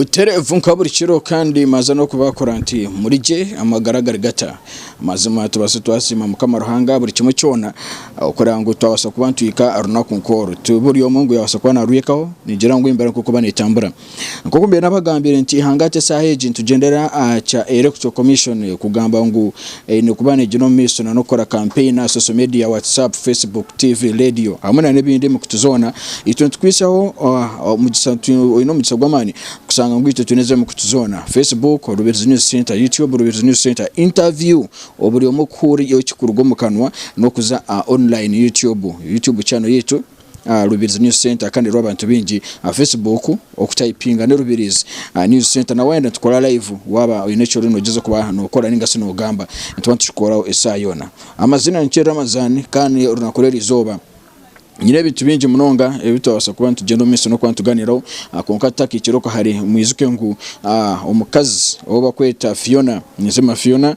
Butereevu nka buri kiro kandi maaze n'okubaakura nti muri gye amagara gari gata? Mazima tubaase twasiima Mukama Ruhanga aha buri kimwe kyona kureba ngu twabaasa kuba nitwika aha runaku nk'oru. Ti buri omwe ngu yaabaasa kuba naarwikaho, ningira ngu embeera nk'okuba neetambura. Nk'oku mbaire naabagambiire nti hangahati eshaaha egi nitugyendera aha kya Electoral Commission kugamba ngu Eine kuba neegyera omu maisho na n'okukora kampeyini aha social media, WhatsApp, Facebook, TV, leediyo hamwe na n'ebindi emikutu zoona. Itwe nitukwisaho omugisha oine omugisha gw'amaani kushanga ngu itwe twine ezi emikutu zoona, Facebook, Rubirizi News Centre, YouTube, Rubirizi News Centre, Interview oburi omwe kuhuurira eki kuruga omu kanwa n'okuza aha online YouTube, YouTube channel yaitu. aha Rubirizi News Centre kandi ruriho abantu baingi aha Facebook okutayipinga ni Rubirizi News Centre na wayenda nitukora live waaba oine eki oriyo noogyezaho kuba nookora ninga shi noogamba nituba nitukikooraho esaaha yoona. Amaziina nikye Ramazan kandi orunaku rw'eri izooba nyine ebintu bingi munonga ebi twabaasa kuba nitugyenda omu maisho n'okuba nituganiiraho kwonka tutakaikire okwe hare mwijuke ngu omukazi ou barikweta Fiona Nizima Fiona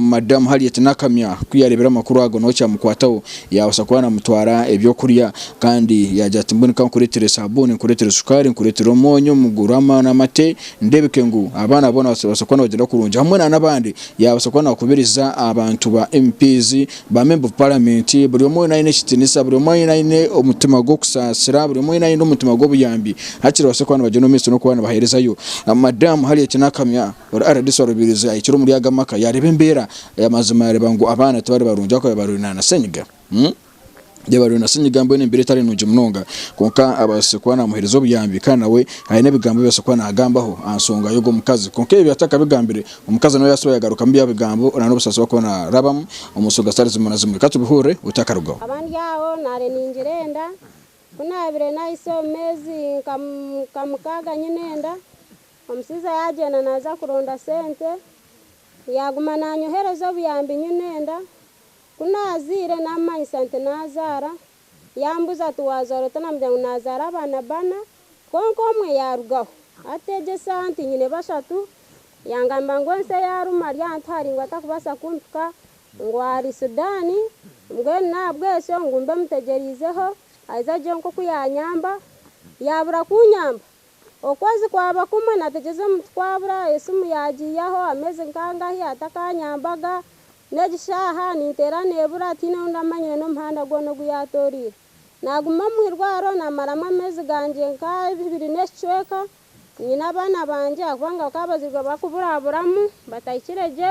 Madamu Harriet Nakamya ku yaareebire amakuru ago nawe kyamukwataho yaabaasa kuba naamutwara eby'okurya kandi yaagira ati mbwenu ka nkureetere saabuuni, nkureetere sukaari, nkureetere omwonyo mugure amate ndeebeke ngu abaana boona nibabaasa kuba nibagyenda kurungi hamwe nana abandi yaabaasa kuba naakubiriza abantu ba MP, ba memba of parliament buri omwe weena aine ekitiinisa buri omwe weena aine omutima gw'okusaasira buri omwe weena aine omutima gw'obuyambi hati babaase kuba nibagyenda omu maisho n'okuba nibaheerezayo Madamu Harriet Nakamya. Rdc wa Rubirizi ahikire omuri aga maka yareeba embeera amazima yareeba ngu abaana tibari barungi ahabw'okuba barwaire na senyiga Beitu barwaire na senyiga mbwenu embeera etari nungi munonga kwonka ababaasire kuba namuhereza obuyambi kandi nawe aine ebigambo ebi ababaasire kuba nagambaho aha nsonga y'ogwo mukazi kwonka ebi atakabigambire omukazi nawe yabaasa kuba yagarukamu bya bigambo na n'obusaasi obu arikuba narabamu omu nsonga zitari zimwe na zimwe reka tubihurire otu akarugaho. Nkaba ndi aho naare ningira enda ku naabire nahitsya omu meezi nka mukaaga nyine enda. Omushaija yaagyenda naaza kuronda sente, yaaguma naanyohereza obuyambi nyu nenda. Ku naazaire naamumanyisa nti naazaara. Yaambuuza ati, Waazaara ota? Naamugira ngu naazaara abaana bana kwonka omwe yaarugaho. Ategyesa nti nyine bashatu, yangamba ngu ensi eyaaruma ari ahantu hari ngu atakubaasa kumpika, ngu ahari Sudan, mbwenu n'ahabw'ekyo ngu mbe mutegyereizeho, aize agire nk'oku yaanyamba. Yaabura kunyamba, Okwezi kwaba kumwe nategeza omuntu kwabura, esimu yagiiyaho ameezi nkangahi atakanyambaga, n'egi shaaha ninteera nebura tiine ondi amanyire n'omuhanda gwona ogu yatoreire. Naguma omu irwariro namaramu ameezi gangye nk'abiri n'ekicweka nyine abaana bangye ahabw'okuba bakaba bazairwe barikuburaburamu batahikire gye.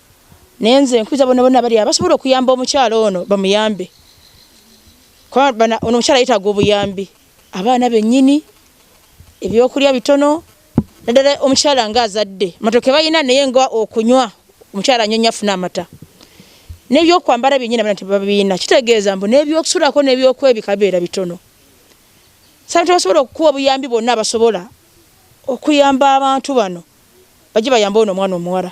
nenze nkwiza bona bona bariya basobora okuyamba omukyara ono bamuyambe kuba ono omukyara yetaga obuyambi abaana benyini ebyokurya bitono nadala omukyara nga azadde amatoke bayina naye nga okunywa omukyara anywe afune amata nebyokwambara byenyini abaana tibabina kitegeza ngu nebyokusurako nebyokwebika bibera bitono so abantu abasobora okukuwa obuyambi bona basobora okuyamba abantu bano baje bayambe ono omwana omuwara.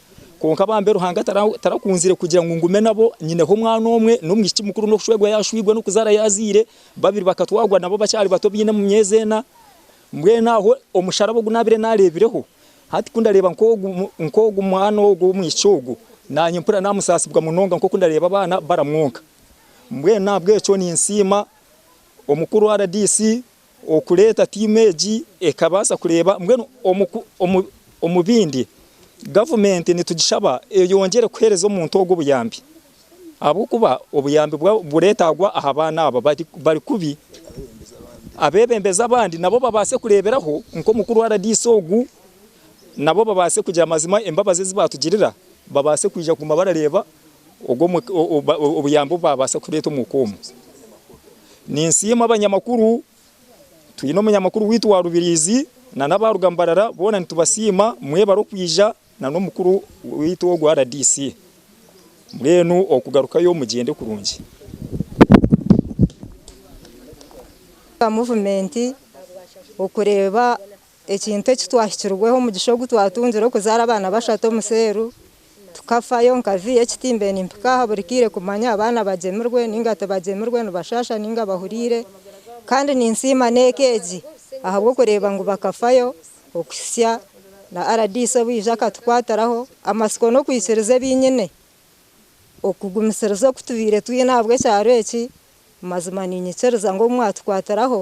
Kwonka bambe Ruhanga tarakunzire kugira ngu ngume nabo, nyineho omwana omwe n'omwishiki mukuru n'okushwerwa yashwirwe n'okuzaara yazaire, babiri bakatwarwa nabo bakyari bato baine mu myezi ena. Mbwenu aho omusharaba ogu naabire naareebireho, hati ku ndareeba nk'ogu mwana ogu ow'omwishiki ogu, naanye mpurira naamusaasibwa munonga nk'oku ndareeba abaana baramwonka. Mbwenu n'ahabw'ekyo ninsiima omukuru RDC Okureeta tiimu egi ekabaasa kureeba mbwenu omu bindi gavumenti nitugishaba eyongyere kuheereza omuntu ogwo obuyambi ahabw'okuba obuyambi bureetaagwa aha baana aba bari kubi. Abeebembezi abandi nabo babaase kureeberaho nk'omukuru rdc ogu nabo babaase kugira mazima embabazi ezi baatugirira babaase kwija kuguma barareeba. obuyambi obu baabaasa kureeta omu ka omu. Ninsiima abanyamakuru, twine omunyamakuru waitu wa Rubiriizi na n'abaaruga Mbarara boona nitubasiima mwebare okwija na n'omukuru waitu ogwa RDC. Mbwenu okugarukayo mugyende kurungi. Ekintu eki twahikirweho omugisha ogu twatungire okuzaara abaana bashatu omu seeru tukafayo nkaziha ekitimbe nimpika aha buri kaire kumanya abaana bagyemirwe ninga tibagyemirwe nibashaasha ninga bahuriire kandi ninsiima n'eka egi ahabw'okureeba ngu bakafayo okuhitsya na rdc obu yaija akatukwatiraho amatsiko n'okwikiriza ebi nyine okugumisiriza oku tubaire twine ahabw'ekyaro eki mazima niinyikiriza ngu obu mwatukwatiraho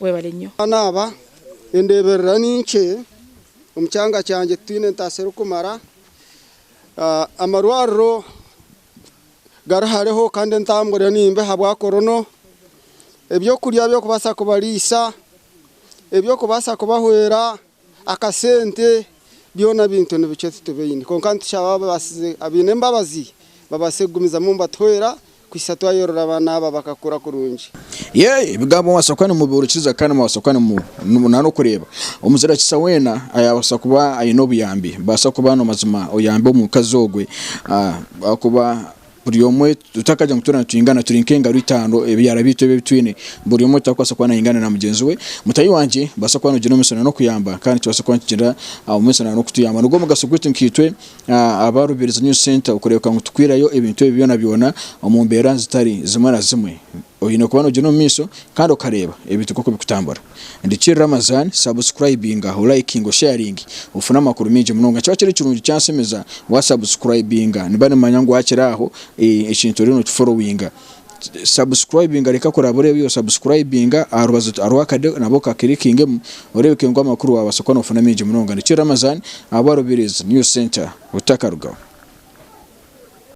Webale nyo. Naaba endeeberera ni nkye omu kyanga kyangye titwine entaasa erikumara. Amarwariro gari hareho kandi entambura ni mbi ahabwa korono. Ebyokurya by'okubaasa kubariisa, eby'okubaasa kubahwera Akasente byona bintu nibikye titubaine kwonka nitushaba ababaasize abaine embabazi babaase kugumizamu nibatuhwera kuhitsya twayorora abaana aba bakakura kurungi. Yee, ebigambo mubaasa kuba nimubihurikiza kandi mubaasa kuba nimu na n'okureeba omuzirakisa weena ayaabaasa kuba aine obuyambi. Baasa kuba na mazima oyambe omukazi ogwe ahakuba. Buri omwe tutakagire ngu twena nitwingana, turi nk'engaro itaano, ebyara byaitu ebi ebi twine. Buri omwe tarikubaasa kuba naingana na mugyenzi we. Mutaahi wangye, nibaasa kuba noogira omugisha n'okuyamba kandi nikibaasa kuba nikigira omugisha n'okutuyamba. Nigwo mugasho gwaitu nkaitwe aba Rubirizi News Centre okureebeka ngu tukwirayo ebintu ebi byona byona omu mbeera zitari zimwe na zimwe. Oyine kuba nogyenda omu maisho kandi okareeba ebintu nkoku bikutambura. Rikye Ramazan subscribinga, olayikinga, osharinge ofune amakuru mingi munonga. Nikiba kiri kirungi kyansemeza wa subscribinga niba nimanya ngu wakire aho ekintu oriyo nokiforowinga. Subscribinga reka kuraba oreeba ebi osubscribinga aharubaju hariho akade nabwo kakilikingemu oreebeke ngu amakuru wabaasa kuba nofuna mingi munonga. Rikye Ramazan aba Rubirizi News Centre otakarugaho.